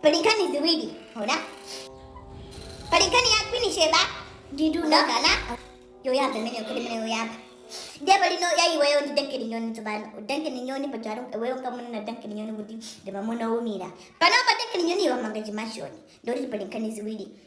pali nkhani ziwiri ona pali nkhani ya queen sheba ndi dunagana yoyamba imene yokhera imene yoyamba ndiye pali no ya iweyo ndi duncan nyoni tsopano duncan nyoni pajatu iweyo ankamunena duncan nyoni kuti ndi mamuna woumira panopa duncan nyoni wamanga chimansion ndoti pali nkhani ziwiri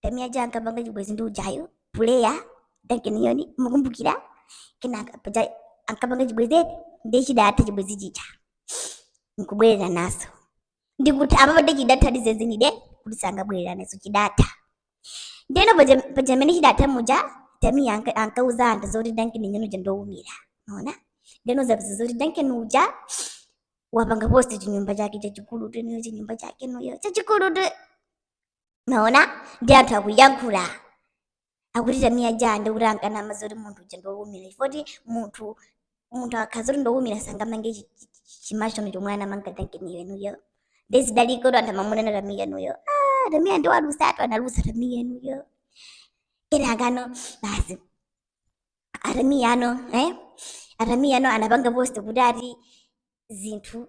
tamia ja ankapanga chibwezi ndi ujayo player duncan nyoni mukumbukira kenaka paja ankapanga chibwezi eti ndiye chidatha chibwezi chija nkubwereranaso ndikuti apa pade chidatha ndi zenizenidi kuti sangabwereranaso chidatha ndeno paja mmene chidatha muja tamia anka- ankauza anthu zoti duncan nyoni uja ndowumira ona ndeno zapeza zoti duncan uja wapanga post chinyumba chake chachikulu teniyo chinyumba chake noyo chachikulu te mwaona nde anthu akuyankhula akuti tamia ja ndikuti ankanama zoti munthu uja ndowumira chifoti munthu munthu akhaza kuti ndowumira sangamange chi- chi- chi- chimansion chomwe anamanga duncanyo inuyo nde zidaliko kuti anthu amamunena tamia inuyo ah, tamia nde walusatu analusa tamia inuyo kenakano basi a tamia ano eh? a tamia ano anapanga post kuti ati zinthu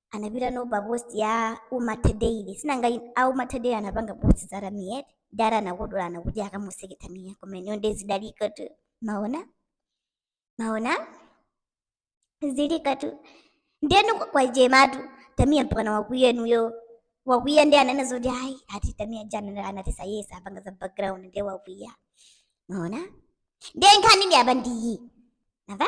anapita no pa post ya umatha daily sinanga a umatha daily anapanga post za tamia dala anakodolana kuti akamuseke tamia koma inu nde zidalikotu mwaona mwaona zilikotu ndiye inu kwachematu tamia mpakana wakwiya inuyo wakwiya ndi anene zoti ayi ati tamia ja anatisa yesa apanga za background ndiye wakwiya mwaona ndiye nkhani ndi apa ndiyi nava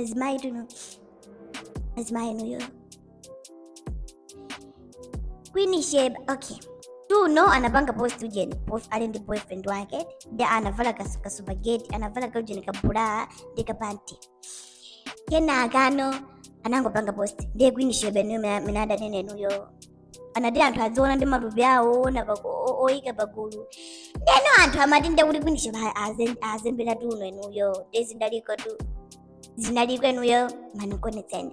azimayi tuno azimayi inuyo queen sheba okay tuno anapanga post ujeni post ali ndi boyfriend wake ndi anavala kas- kaspaghetti anavala kaujeni kabra ndi kapanti kenakano anangopanga post ndiye queen sheba nuyo minadanene nuyo anati anthu adziona ndi matupi awo oona pa- o- o- oyika pagulu ndeno anthu amati ndekuti queen sheba azembera tuno inuyo nde zinalikotu zinaliko inuyo manikonetseni